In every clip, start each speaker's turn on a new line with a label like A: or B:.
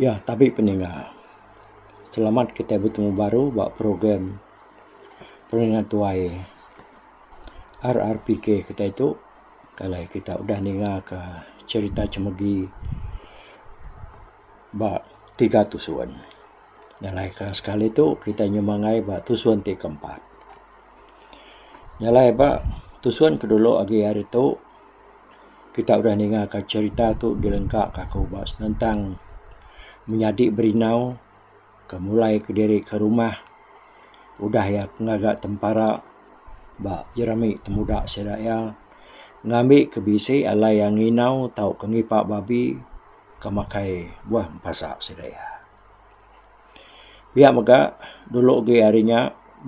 A: Ya tabi peninga. Selamat kitai betemu baru ba program peninga tuai RRPK kitai tu. Kai alai kitai udah ninga ka cherita chemegi ba tiga tusun. Nya alai ka sekali tu kitai nyumangai ba tusun ti keempat. Jalai ba tusun ke dulu agi hari tu kita udah ninga ka cherita tu dilengka ka aku ba senentang menyadi berindau ke mulai ke diri ke rumah udah iya ke ngaga tempara ba jerami temuda sida iya ngambi ke bisi alai iya nginau tau ke ngipa babi ke makai buah mepasa sida iya. Pia mega dulu agi hari nya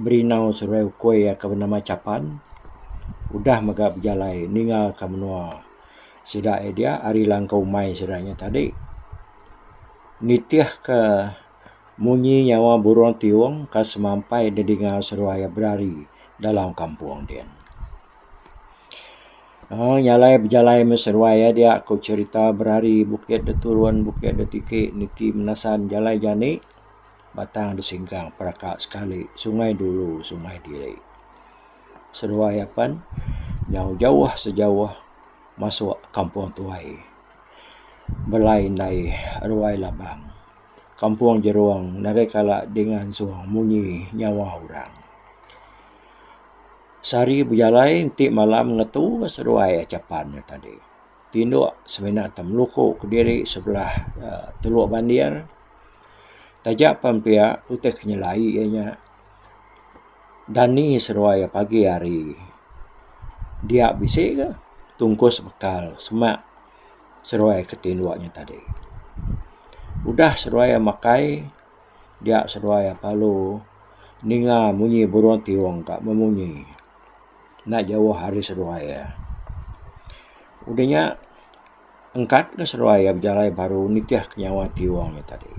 A: Berino Seruai Ukui aka benama Chapan udah mega bejalai ninga ka menua sida iya dia ari langkau umai sida nya tadi nitih ka munyi nyawa burung tiong ka semampai didinga seruai iya berari dalam kampung dian. Haa nya alai bejalai meh seruai iya dia ko cerita berari bukit de turun bukit de tiki niti menasan jalai jani batang de singkang peraka sekali sungai dulu sungai diri seruai apan jauh jauh sejauh masuk kampung tuai belai indai ruai labang kampung jerong nadai kala dingan suang munyi nyawa orang. Sehari bejalai enti malam ngetu ka seduai aja pan nya tadi. Tinduk semina ti meluku kediri sebelah uhh Teluk Bandir. Taja pan pia utai ke nyelai iya nya dani seduai iya pagi hari. Dia bisi ka tungkus bekal semak seduai ke tinduk nya tadi. Udah seduai iya makai. Dia seduai aku alu ninga munyi burung tiung ka memunyi enda jauh ari seduai iya. Udah nya engkat ka seduai iya bejalai baru nitih ka nyawa tiung nya tadi.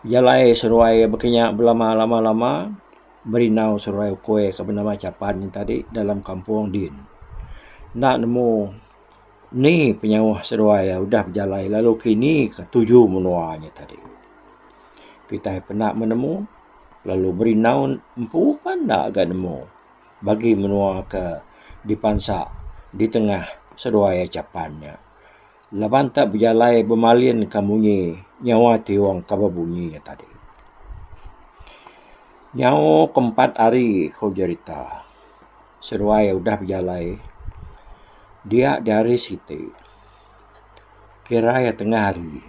A: Jalai seduai iya baka nya belama lama lama. Berindau seruai ukui ke benama Chapan nya tadi dalam kampung din. Enda nemu ni penyauh seruai iya udah bejalai lalu kini ke tuju menua nya tadi. Kitai penda meh nemu lalu berindau empu pun enda ga nemu bagi menua ke dipansa ditengah seruai iya Chapan nya. Laban tak bejalai bemalin ka munyi nyawa ti wang ka bebunyi nya tadi. Nyau ke empat hari ku jerita seduai udah bejalai dia di hari siti kira iya tengah hari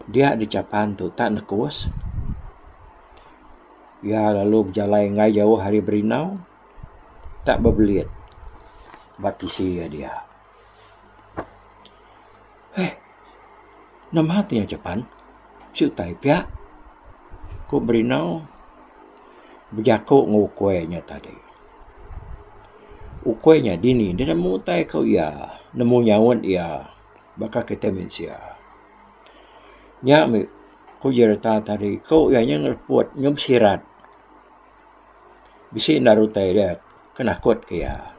A: dia di chapan tu tak nekus iya lalu bejalai enggai jauh ari berindau tak bebelit ba tisi iya dia. Heh. Nama ti iya aja pan. Bisi utai pia. Ku Brino bejaku enggau ukoi inya tadi. Ukoi inya dini ne nemu utai ku iya, nemu nyaut iya baka kitai mensia. Nya mih ku Jerita tadi, ku iya nya ngereput, nya bisirat. Bisi enda ari utai dia ke nakut ke iya.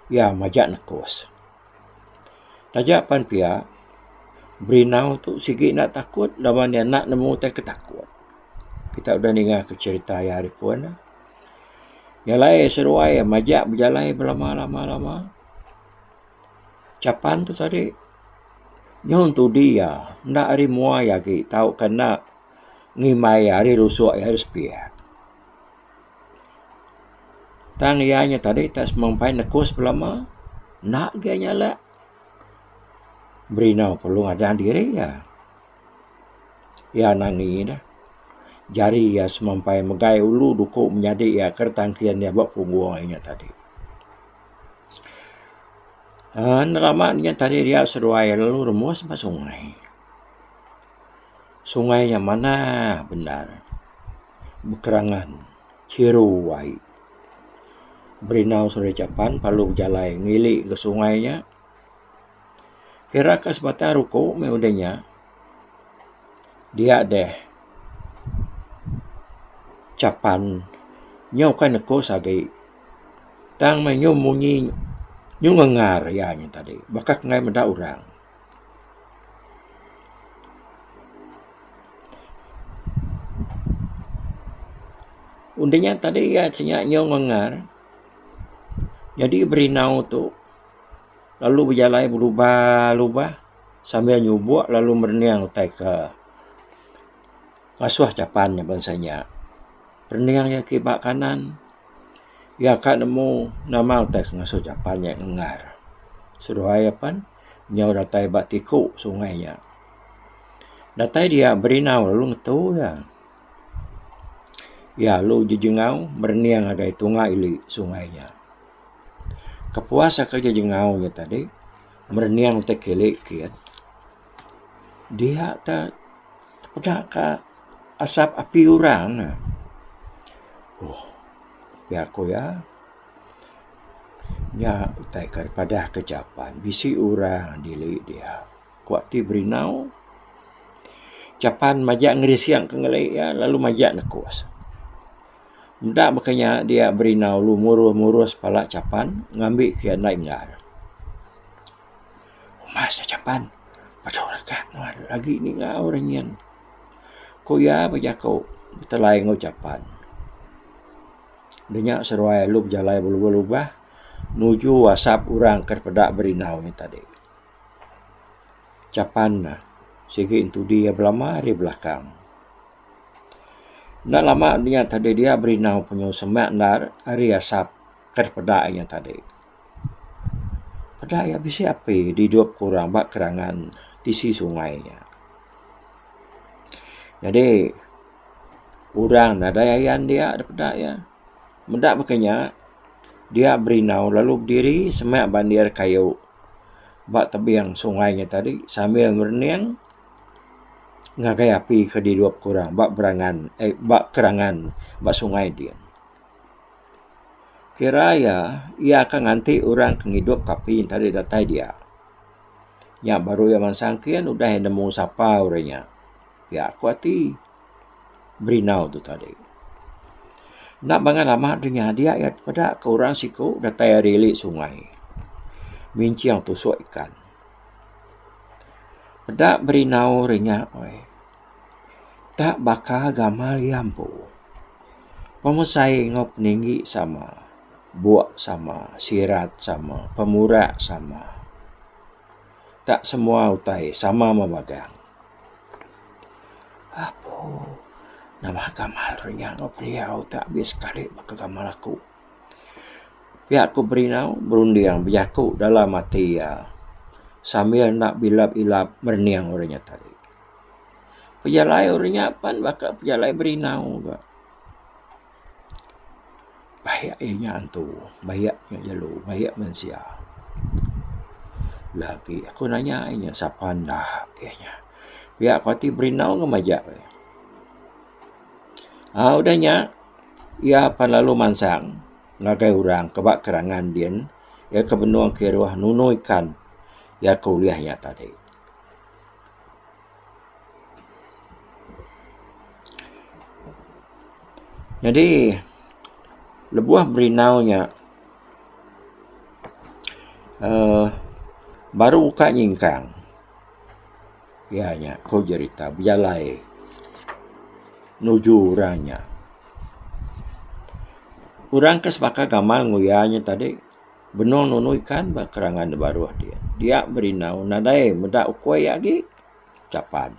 A: Iya maja nekus. Taja pan pia Brinaw tu sigi enda takut laban ne enda nemu utai ke takut. Kita udah ninga ke cherita iya ari pun ne. Iya alai seduai iya maja bejalai belama lama lama. Chapan tu tadi nyuhun tudi iya enda ari mua iya agi tau ke enda. ngimbai ari rusuk iya ari sepia. Tang iya nya tadi tak semah umpai nekus belama enda agei nya alak berinau perlu ngadan diri iya. Iya nangi dah jari iya semua umpai megai ulu duku menyadi iya ke retangkin iya ba punggung iya nya tadi. Aaa nerama nya tadi dia seduai lalu remus ba sungai. Sungai nya manah bendar bekerangan chiru ai. Berindau Sungai Chapan lalu bejalai ngili ke sungai nya. Ira ka sebatang ari ku meh udah nya dia deh Chapan nyau ka nekus agi tang meh nyu munyi nyu ngengar iya nya tadi bakah kai meda orang. Undi nya tadi iya ceh nya nyau ngengar nyadi berinau tu lalu bejalai belubah lubah sambil nyubok lalu merening utai ke ngasuh chapan nya bansa nya. Rening iya ke ba kanan iya ka nemu nama utai ke ngasuh chapan nya ngengar seduai iya pan. Nyau datai ba tiku sungai nya. Datai dia berinau lalu ngetu iya. Iya lalu jejengau merening ngagai tunga ili sungai nya. Kepuas aka jejengau nya tadi, merening utai kili kiet, dia ke peda ka asap api orang ne. Ohh, pia ku iya. Nya utai ke padah ke Japan bisi orang dili dia ku ti berindau. Japan maja ngerising ke ngeli iya lalu maja nekus. Enda meka nya dia berindau lalu murus murus pala Japan ngambi ke iya enda inggar. Mas da Japan pejau rega nuan agi ni ngau ora nyin ku iya bejaku betelai enggau Japan. Denya seruai alu bejalai belubah-lubah nuju asap orang ke peda berindau nya tadi. Chapan ne sigi entudi iya belama ari belakang. Enda lama inya tadi dia berindau penuh sema endar ari asap ke peda inya tadi. Peda iya bisi api didup ke orang ba kerangan tisi sungai nya. Jadi. Orang nadai ayan dia da peda iya. Meda baka inya, dia berindau lalu bediri semia bandir kayu ba tebing sungai nya tadi sambil ngerening ngagai api ke dirup ku orang ba berangan ai ba kerangan ba sungai ti. Kira iya, iya akan nganti orang ke ngidup ke api nya tadi datai dia. Nya baru iya mansang kin udah iya nemu sapa orang nya. Pia ku ati Brindau tu tadi. Enda bangat lama deh nyadi iya peda ke orang siko datai ari ili sungai minching tusok ikan. Peda Brindau ri nya weh ta baka gamal iya empu. Pemesai enggau peninggi sama, bok sama, sirat sama, pemura sama. tak semua utai sama memagang. Apo nama gamal ri nya enggau pendiau ti abis sekali baka gamal aku. Pia ku Berinau berunding bejaku dalam ati iya sambil enda bilap-ilap merening uri nya tadi. Pejalai uri nya pan baka pejalai Berinau ka. Bayak iya nya antu, bayak iya nya jelu, bayak mensia. Lagi aku nanya iya nya sapa enda iya nya. Pia ku ati berindau ngan majak iya nya. Au udah nya iya pan lalu mansang ngagai orang ke ba kerangan din iya ke benung kiruh nunu ikan iya ke ulih nya tadi. Nyadi lebuh berindau nya uhh baru ka nyingkang iya nya ku jerita bejalai nuju orang nya. Orang ke sebaka gamal enggau iya nya tadi. Benung nunu ikan ba kerangan da baruh dia. Dia berindau nadai meda ukoi iya agi. Capan.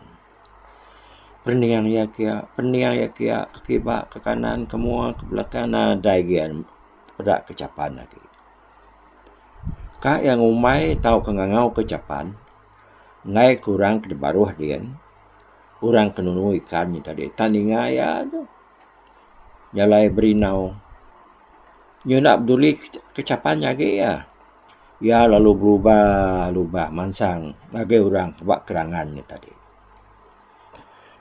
A: Pening iya kia, pening iya kia, ke kiba, ke kanan, ke mua, ke belakang nadai gia peda ke capan agi. Ka iya ngumbai tauka ngangau ke capan enggai ke orang ke da baruh dia, orang ke nunu ikan nya tadi. Tan ninga iya tu. jalai berindau. Nya enda peduli kechapan nya agi iya. Iya lalu berubah-ubah mansang ngagai orang ba kerangan nya tadi.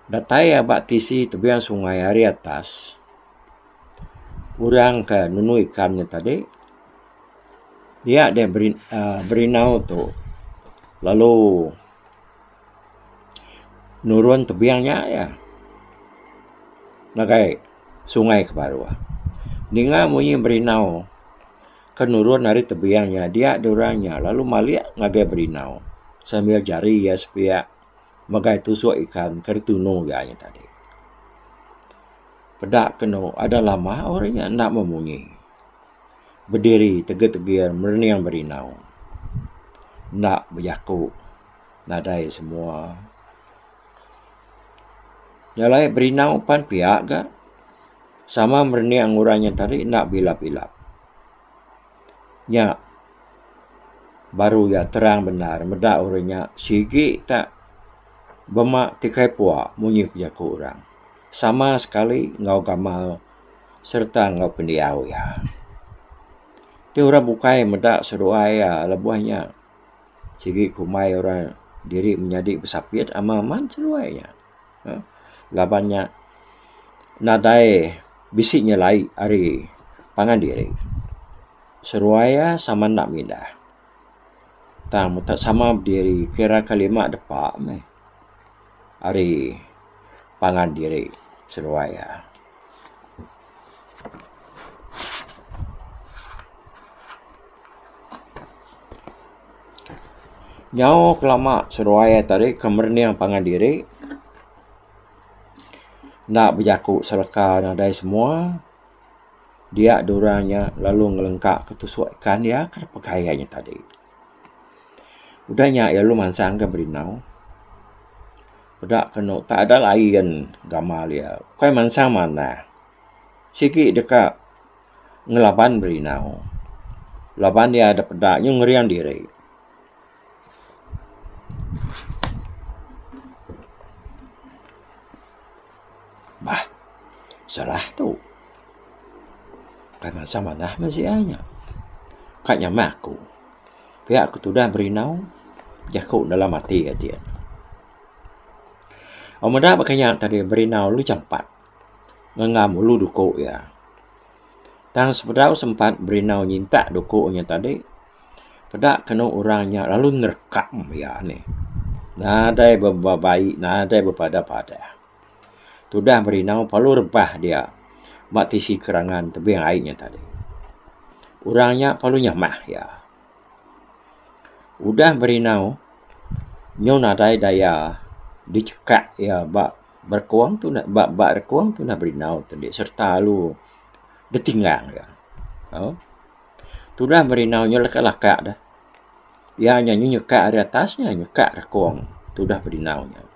A: Datai iya ba tisi tebiang sungai ari atas, orang ke nemu ikan nya tadi, iya deh berindau tu lalu. Nurun tebing nya iya ngagai sungai ke baruh. Ninga munyi berindau ke nurun ari tebing nya dia nya orang nya lalu malik ngagai berindau sambil jari iya sepiak ngagai tusok ikan ke ditunu iya nya tadi. Peda ke anu ada lama orang nya enda meh munyi bediri tegir tegir merening berindau enda bejaku. nadai semua. Nya alai berinau pan pia ga sama merening orang nya tadi enda bilap-bilap. Nya baru iya terang bendar meda orang nya sigi ta bema ti kai pua munyi ke jaku orang sama sekali enggau gamal sereta enggau pendiau iya. Ti orang bukai meda seduai iya lebuh nya. Sigi ku mai orang diri menyadi besapit ama aman seduai nya. uhh Laban nya nadai bisi nyelai ari pangan diri. Seduai iya sama enda mindah. Tang muka sama bediri kira ka lima depa meh ari pangan diri seduai iya. Nyau kelama seduai iya tadi ke merening pangan diri enda bejaku sereka nadai semua dia dua orang nya lalu ngelengka ke tusok ikan iya ke dipeggai iya nya tadi. Udah nya iya lalu mansang ke berindau. Peda kenu tak ada lain gamal iya ukai mansang manah sigi deka ngelaban berindau laban iya da peda nyau ngering diri. Bah salah tu ukai mansang manah meh sii ai nya ka nyamah aku. Pia ku tudah berindau jaku dalam ati ati ne. Ba meda ba kinya tadi berindau lu champat ngengam ulu duku iya. Tang sebedau sempat berindau nyintak duku nya tadi peda kenu orang nya lalu nerekam iya nih. Nadai bebabai nadai bepadah padah. Tudah Merindau parlu rebah dia ba tisi kerangan tebing ai nya tadi. Orang nya parlu nyamah iya. Udah Merindau nyu nadai daya dichekak iya ba berekong tu enda ba ba rekong Tudah Merindau tu indi sereta lalu ditinggang iya. Au. Tudah Merindau nya leka leka deh. Iya nya nyu nyekak ari atas nya nyekak rekong Tudah Merindau nya.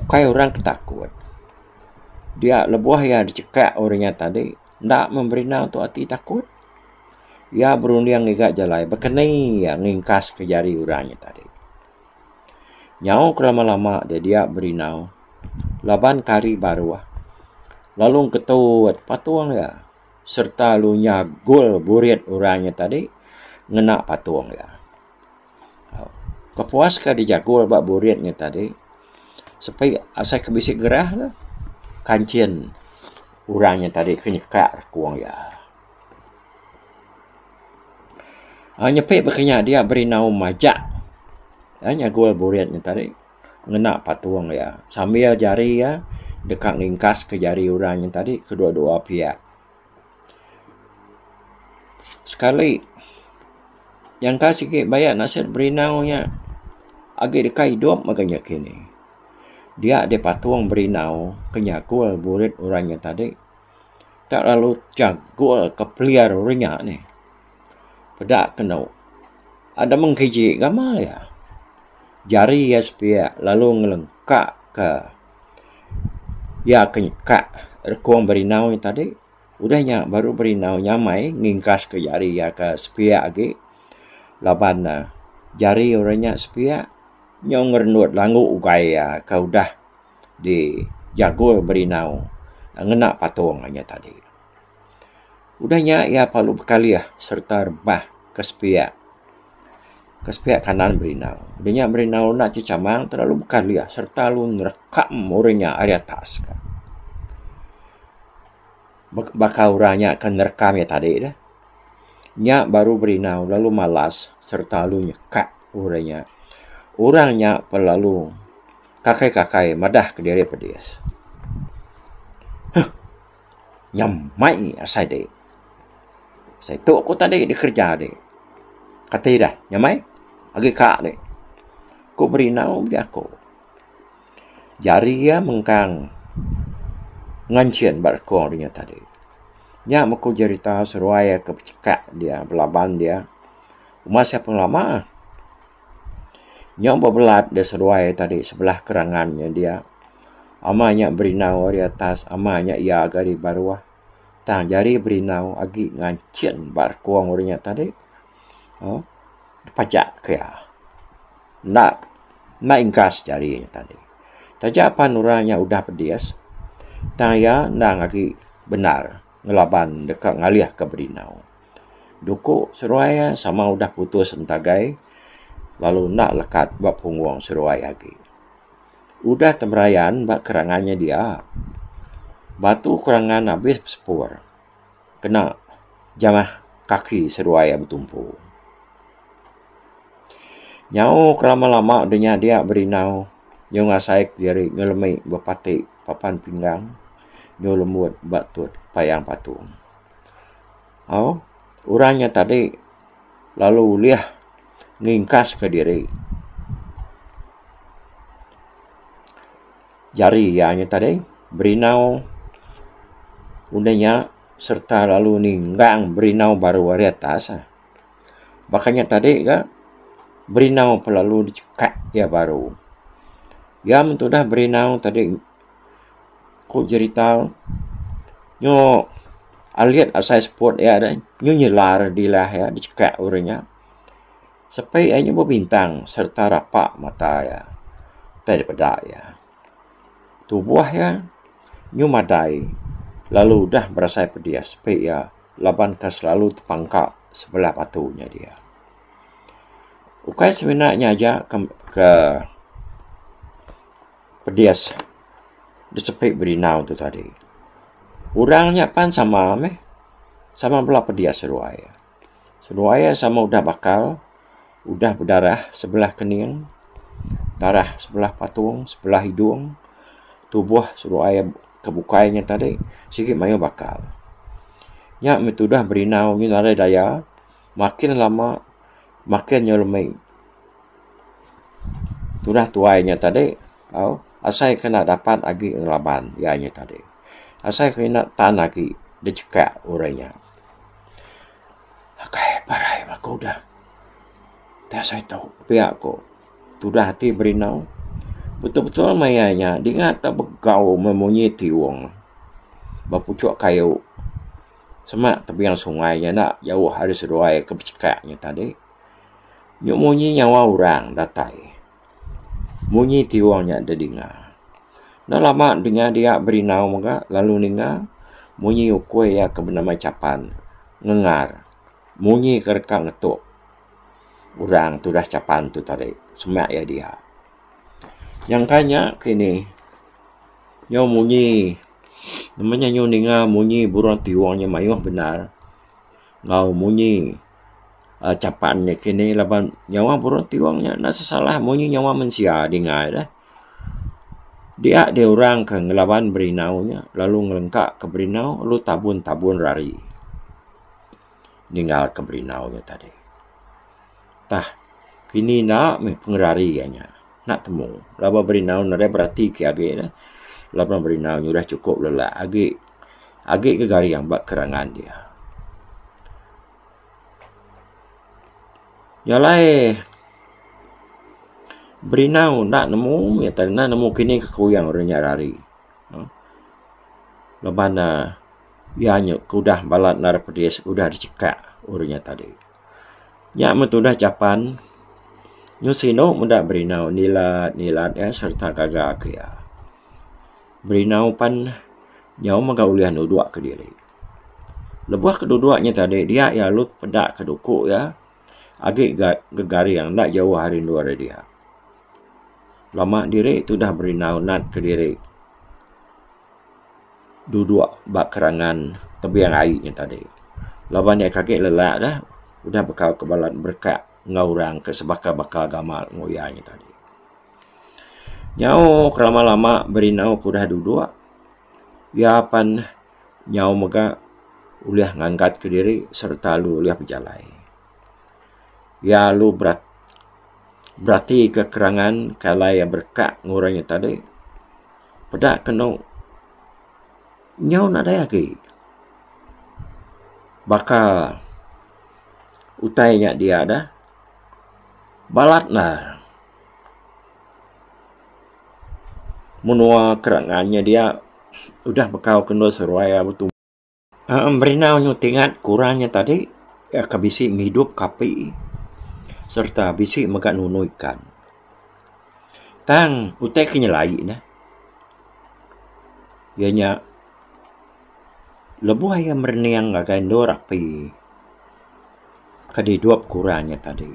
A: Ukai orang ke takut dia lebuh iya dicekak orang inya tadi enda memberi enda tu ati takut iya berunding ngiga jalai bekeni iya ngingkas ke jari orang inya tadi. Nyau ke lama lama deh dia berinau laban ke hari baruh lalu ketut patung iya serta lu nyagul burit orang inya tadi ngena patung iya. Kepuas ka dijaku ba burit nya tadi sepi asai ke bisi gerah ne kanchin orang nya tadi ke nyeka rekung iya. Ai nyepi ba kinya dia berinau majak ai nyagul burit nya tadi ngena patung iya sambil jari iya deka ngingkas ke jari orang nya tadi kedua-dua piak. Sekali nyangka sigi baya nasat berinau nya agi deka idup mega nya kini. Dia deh patung berinau ke nyagul burit orang nya tadi. Enda lalu jagul ke peliar orang nya nih. Peda ke enu ada mung kiji gamal iya. Jari iya sepiak lalu ngelengkak ke. Iya ke nyekak rekung berinau iya tadi. Udah nya baru berinau nya mai ngingkaska jari iya ke sepiak agi laban ne jari orang nya sepiak nyau ngerendut langu ugai iya ke udah dijagul berinau ngena patung iya tadi. Udah nya iya parlu bekalih sereta rebah ke sepiak ke sepiak kanan berindau. Udah nya berindau enda ti chamang tau lalu bekalih sereta lalu nerekam orang nya ari atas ka. Baka baka orang nya ke nerekam iya tadi dah. Nya baru berindau lalu malas sereta lalu nyekak orang nya. Orang nya pun lalu kakai kakai madah ke diri pedis. Huh. Nyam mai asai dek. Asai tok aku tadi di kerja dek. Kati dah nyam ai. Agi ka dek. Ku meri nau megi aku. Jari iya mengkang nganchin ba rekong dunya tadi. Nya meh ku jerita seruai ke pecheka dia belaban dia uma sia pengelama. Nya bebelat da seduai tadi sebelah kerangan nya dia. Ama nya berindau ari atas, ama nya iag ari baruh. Tang jari berindau agi nganchin ba rekung ori nya tadi uhh dipajak ke iya. Enda, enda ingkas jari nya tadi. Taja pan orang nya udah pedis, tang iya endang agi bendar ngelaban deka ngalihka berindau. Duku seruai iya sama udah putus entagai lalu enda lekat ba punggung seruai agi. Udah temerayan ba kerangan nya dia, batu kerangan abis besepur kena jamah kaki seruai iya betumpu. Nyau ke lama-lama deh nya dia berindau nyau ngasai kediri nyau lemi bepati papan pinggang nyau lembut ba tut payang patung. Au, orang nya tadi lalu ulih ngingkaska diri. Jari iya nya tadi berinau udah nya sereta lalu ninggang berinau baru ari atas. Baka nya tadi ga berinau lalu dicekak iya baru. Iya men tudah berinau tadi. Ku jerita nyu alit asai seput iya deh nyu nyela dilah iya dichekak urang iya. Sepi iya nyu bebintang sereta rapa mata iya utai dipeda iya. Tubuh iya nyu madai lalu udah berasai pedis sepi iya laban ke selalu tepangka sebelah batu nya dia. Ukai semina nya aja ke ke. Pedis disepi berindau tu tadi. Orang nya pan sama meh. Sama bala pedis seduai. Seduai iya sama udah bakal, udah bedarah sebelah kening, darah sebelah patung, sebelah hidung, tubuh seduai ke bukai nya tadi sigi mayuh bakal. Nya meh tudah berindau ngin ari daya. Makin lama makin nyau lemi. Tunah tuai nya tadi au asai kena dapat agi ngelaban iya nya tadi. Asai kena tan agi dicheka urang nya. Akai parai ba aku udah ti asai tu pia ku tudah ati berindau betul betul meh iya nya dingat begau meh munyi tiung ba puchok kayu. Semak tebing sungai nya enda jauh ari seduai ke bechekak nya tadi. Nyu munyi nyawa orang datai. Munyi ti wang nya dedinga. Enda lama denya dia berindau mega lalu ninga munyi ukui iya ke benama Chapan ngengar munyi ke deka ngetuk orang tudah Chapan tu tadi. Semak iya dia. Nyangka nya ti ini nyau munyi nama nya nyau ninga munyi burung ti wang nya mayuh bendar enggau munyi aaa chapan nya kini laban nyawa burung ti wang nya enda sesalah munyi nyawa mensia dinga iya deh. Dia deh orang ke ngelaban berinau nya lalu ngelengka ke berinau lalu tabun tabun ari ninggal ke berinau nya tadi. Tah, kini enda meh pengerari iya nya enda temu laban berindau nadai berati ke agi ne laban berindau nya udah chukup lelak agi agi ke garing ba kerangan dia. Nya alai berindau enda nemu iya tadi enda nemu kini ke kuyang orang nya rari uhh laban ne iya nya ke udah balat nadai pedis udah dicekak orang nya tadi. Nya meh tudah japan nyau sinu meda berindau nilat nilat iya serta gaga ke iya. Berindau pan nyau mega ulih nudok ke diri. Lebuh ke dudok nya tadi dia iya lalu peda ke duku iya agi ga garing enda jauh ari endur iya. Lama diri tudah berindau nat kediri dudok ba kerangan tebing ai nya tadi. Laban nya ake kagek lelak ka udah baka ke bala berekak enggau orang ke sebaka baka agama enggau iya nya tadi. Nyau ke lama lama berindau ke udah dudok iya apan nyau mega ulih ngangkat kediri sereta lu ulih bejalai. Iya alu beratika kerangan ke alai iya bereka ngurau inya tadi. Peda kenu nyau nadai agi baka utai inya dia dah. Balat ne menua kerangan inya dia udah bekau ke endur seruai iya betumbak. Berenang nya ti ngat kurang nya tadi ka bisi ngidup ka api sereta bisi mega nunu ikan. Tang utai ke nyelai ne iya nya lebuh iya merening ngagai endur api ke didup kurang nya tadi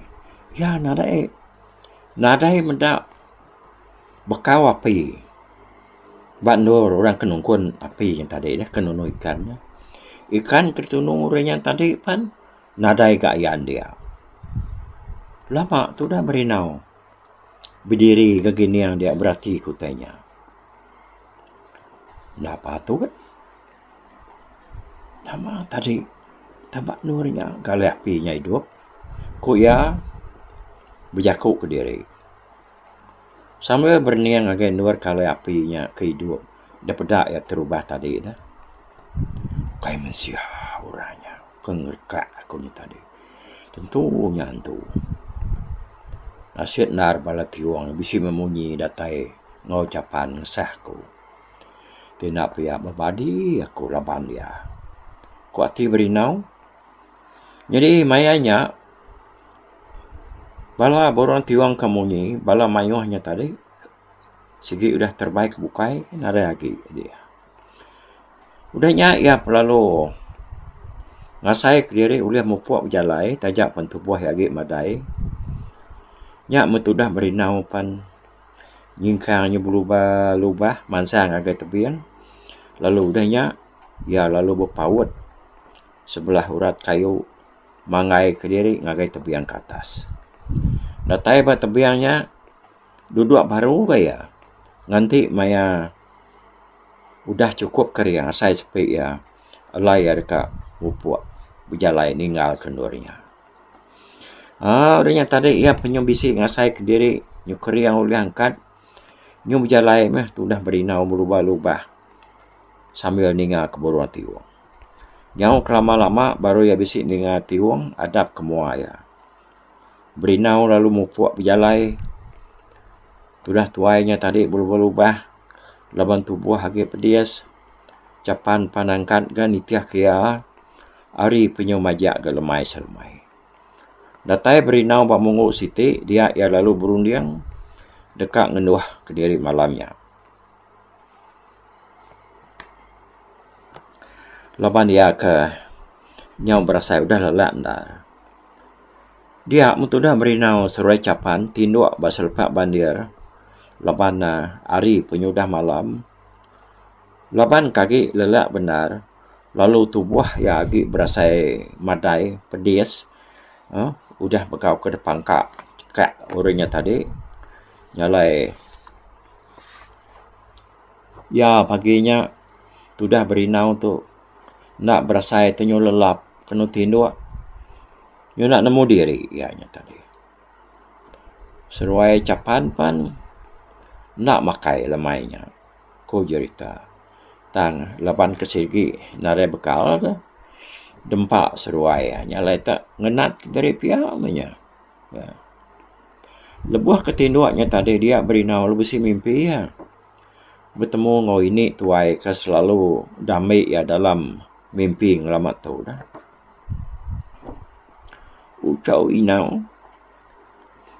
A: iya nadai nadai meda Bekau api ba endur orang ke nungkun api nya tadi nya ke nunu ikan nya. Ikan ke ditunu ri nya tadi pen nadai ga iya andik. Lama tudah berindau bediri gak gining dia berati kutih nya. Enda patut. Nama tadi tama anu ri nya galih ati inya idup ku iya bejaku kediri sambil berening ngagai endur kalai ati inya ke idup da peda iya terubah tadi ne kai mensia orang nya ke ngereka aku nya tadi tentu nya antu asen endar bala tiyung bisi meh munyi datai enggau chapan ngesah aku. Tina pia bebadi aku laban iya, ku ati Berindau. Nyadi maya nya bala burung ti wang ka munyi, bala mayuh nya tadi sigi udah terebai ke bukai nadai agi di iya. Udah nya iya belalu ngasai ke diri ulih mupuk bejalai taja pen tubuh iya agi madai. Nya men tudah Berindau pen. nyingkang nya belubah lubah mansang ngagai tebing lalu udah nya iya lalu bepaut sebelah urat kayu manggai kediri ngagai tebing ke atas. Datai ba tebing nya dudok baru ga iya nganti maya udah chukup kering asai sepi iya alai iya deka mupuk bejalai ninggal ke endur iya. Aa orang nya tadi iya penyu bisi ngasai kediri nyukur iya ulih angkat nyu bejalai meh tudah berindau belubah lubah sambil ninga ke burung ti wong. Nyau ke lama lama baru iya bisi ninga ti wong adap ke mua iya. Berindau lalu mupuk bejalai tudah tuai nya tadi belubah lubah laban tubuh agi pedis. Japan pan angkat ga nitih ke iya ari penyu majak ga lemai selemai. Datai berindau ba munggu siti dia iya lalu berunding deka ngenduh kediri malam nya. Laban iya ke nyau berasai udah lelak enda. Dia mun tudah berindau seruai Japan tinduk ba selepak bandir laban ne ari penyu udah malam. Laban ke agi lelak bendar lalu tubuh iya agi berasai madai pedis uhh udah begau ke depan ka ka urang iya tadi jalai iya pagi nya tudah berindau tu enda berasai tenyu lelap kenu tinduk nyunak nemu diri iya nya tadi. Seruai chapan pan enda makai lemai nya, ku Jerita. Tang laban ke sigi nadai bekal ke dempa seruai nya alai te ngenat diri pia meh nya. Lebuh ke tinduk nya tadi dia berinau lalu bisi mimpi iya betemu enggau ini tuai ke selalu da ambi iya dalam mimpi ngelama tu. Uchau inau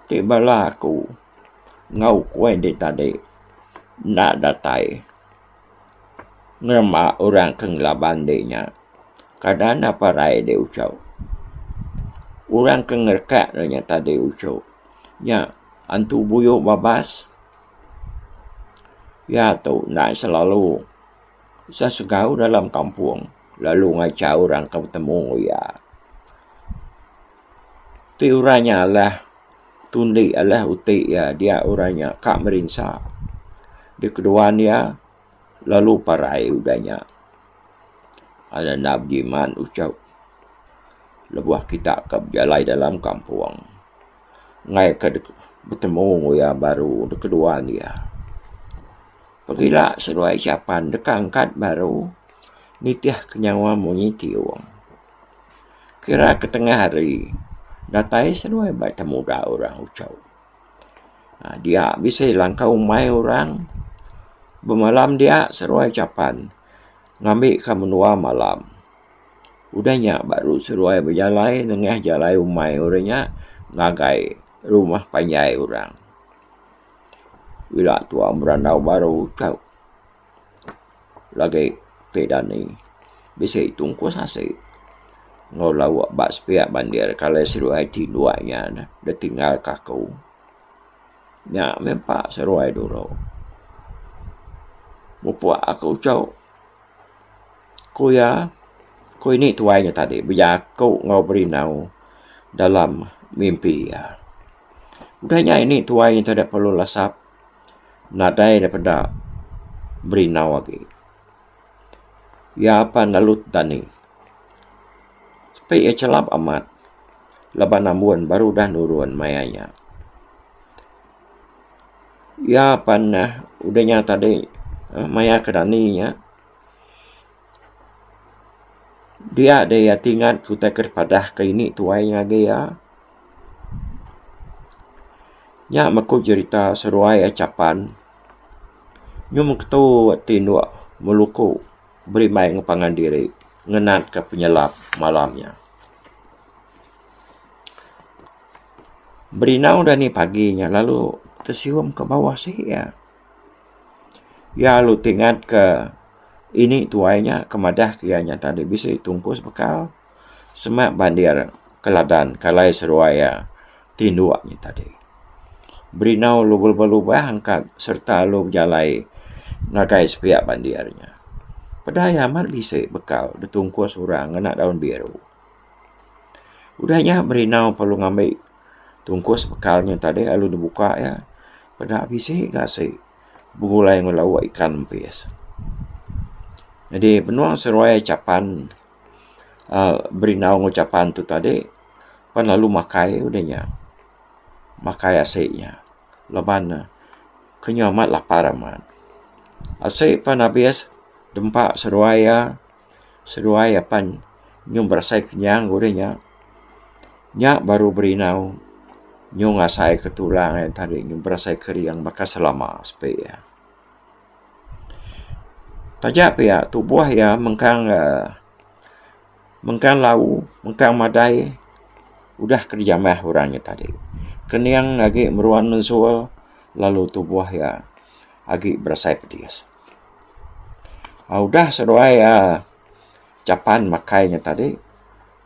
A: ti bala aku enggau kuih dih tadi enda datai nerima orang ke ngelaban dih nya. Kada enda parai dih uchau. Orang ke ngerekak dih nya tadi uchu nya antu buyu babas. Iya tu enda selalu sesegau dalam kampung. Lalu ngacha orang ke betemu enggau iya. Ti orang nya alah tundi, alah uti iya dia orang nya ka merinsa. Dikeduan iya lalu parai udah nya. Lalu enda bejimat uchup lebuh kita ke bejalai dalam kampung. Enggai ke betemu enggau iya baru dikeduan iya. Pagila seduai Syapan deka angkat baru. nitihka nyawa munyi ti Ong. Kira ke tengah hari, datai seduai ba ita muda orang uchau. Dia bisi langkah umai orang. Bemalam dia seduai Chapan ngambika menua malam. Udah nya baru seduai bejalai nengah jalai umai orang nya ngagai rumah panjai orang. Ila tuau berandau baru uchau. Lagi ti dani bisi tungkus asi enggau lauk ba sepiak bandir kalai seduai ti induai nya neh ditinggal ka aku. Nya meh empa seduai dulu. Mupuk aku ujau ku iya ku ini tuai nya tadi bejaku enggau berindau dalam mimpi iya. Udah nya ini tuai nya tadi perlu lasap. nadai da peda berindau agi. Iya apan lalu dani. Tapi iya chelap amat laban ambun baru udah nurun maya iya. Iya apan udah nya tadi maya ke dani iya Dia deh iya ti ngat ku utai ke dipadah ke ini tuai inya agi iya. Nya meku jerita seduai iya chapan nyum ketu ti endo meluku berimbai enggau pangan diri ngenat ke penyelap malam nya. Berinau dini pagi nya lalu tesium ke bawah sik iya. Iya lalu ti ngat ke ini tuai nya ke madah ke iya nya tadi bisi tungkus bekal sema bandir ke ladan ke alai seruai iya ti indu nya tadi. Berinau lu belubah lubah angkat serta lu bejalai ngagai sepia bandir nya. Peda iya amat bisi bekal ditungkus orang ngena daun biru. Udah nya berindau perlu ngambi tungkus bekal nya tadi lalu dep buka iya peda bisi gasi begulai enggau lauk ikan mpis. Jadi menua seruai chapan uhh berindau enggau chapan tu tadi pan lalu makai udah nya makai asi nya laban ne ke nya amat lapar amat. Asi pan abis dempa seruai iya. Seduai apan nyung berasai kenyang ke deh nya. Nya baru berindau nyung ngasaika tulang iya tadi nyung berasai kering baka selama sepi iya. Taja pia tubuh iya mengkang uhh mengkang lau, mengkang madai udah ke dijamah orang nya tadi. Kening agi meruan mensul lalu tubuh iya agi berasai pedis. Udah seduai japan makai nya tadi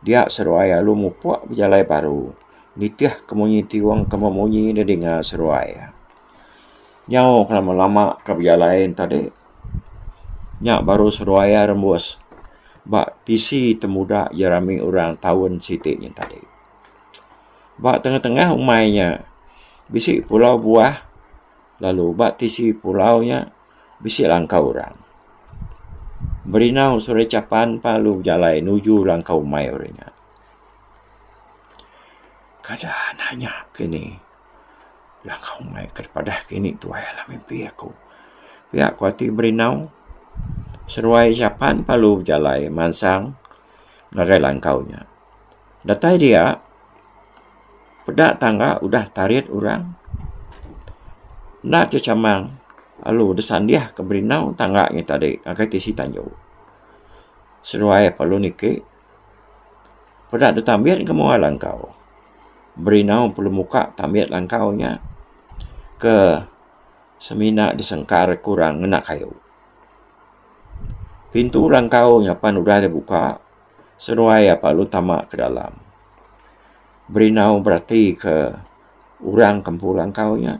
A: dia seduai lalu mupuk bejalai baru nitih ke munyi ti wang ke meh munyi deh dinga seduai iya. Nyau ke lama lama ke bejalai nya tadi nya baru seduai iya rembus ba tisi ti mudah ti rami orang taun siti nya tadi. Ba tengah tengah umai nya bisi pulau buah. Lalu ba tisi pulau nya bisi langkau orang. Berinau Suri Chapan pan lalu bejalai nuju langkau mai orang nya. Kada nanya kini langkau mai ke padah kini tuai alah mimpi aku. Pia ku ati Berinau. Seruai Chapan pan lalu bejalai mansang ngagai langkau nya. Datai dia, peda tangga udah tarit orang. Enda ke chamang lalu disandih ke berindau tangga ngi tadi ngagai tisi tanju. Seduai perlu niki, peda ditambit ke mua langkau. Berindau perlu muka tambit langkau nya ke semina disengkar ke orang ngena kayu. Pintu langkau nya pan udah dibuka. senuai iya perlu tama ke dalam berinau berati ke orang kempu langkau nya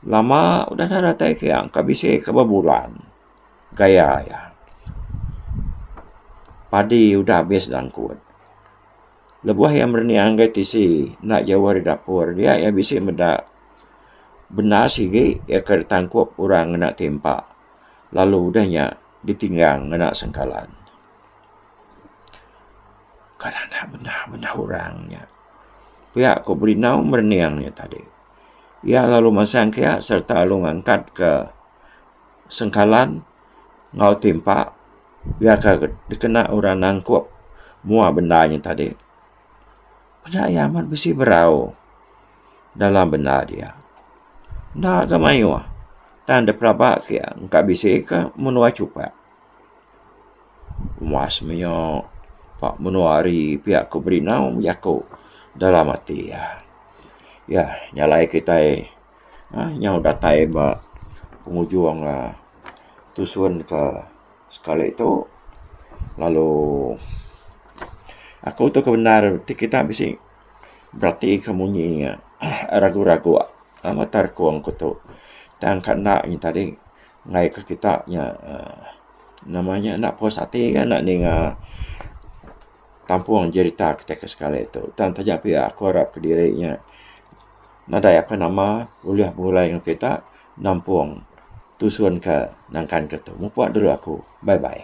A: lama udah nya datai ke iya engka bisi ke bebulan gaya iya padi udah habis langkut lebuh iya merening ngagai tisi enda jauh ari dapur dia iya bisi meda benda sigi iya ke ditangkup orang ngena timpa lalu udah nya ditinggang ngena sengkalan. Kan anak bendar bendar orang nya. Pia ku Berindau merening nya tadi. Iya lalu masang ke sereta lalu ngangkat ke sengkalan enggau timpa pia ke dikena orang nangkup mua bendar nya tadi. Peda iya amat bisi berau dalam bendar dia. Enda ke mayuh tang depelaba ke iya engka bisi ke menua chupat. Mas maya ba menua ari pia ku Berino bejaku dalam ati iya. Iya nyalai kitai uhh nyau datai ba pengujung uhh tusun ke sekali tu lalu aku tu ke bendar ti kita bisi berati ke munyi ragu-ragu mata rekung ku tu tang ka enda nyi tadi. Ngai ke kita nya uhh nama nya enda puas ati ga enda ninga kampung jerita kita ke sekali tu tang taja pia aku arap kediri nya nadai apai nama ulih begulai ngan kita nampung tusun ke nangkan ke tu. Mupok dulu aku. Bye bye.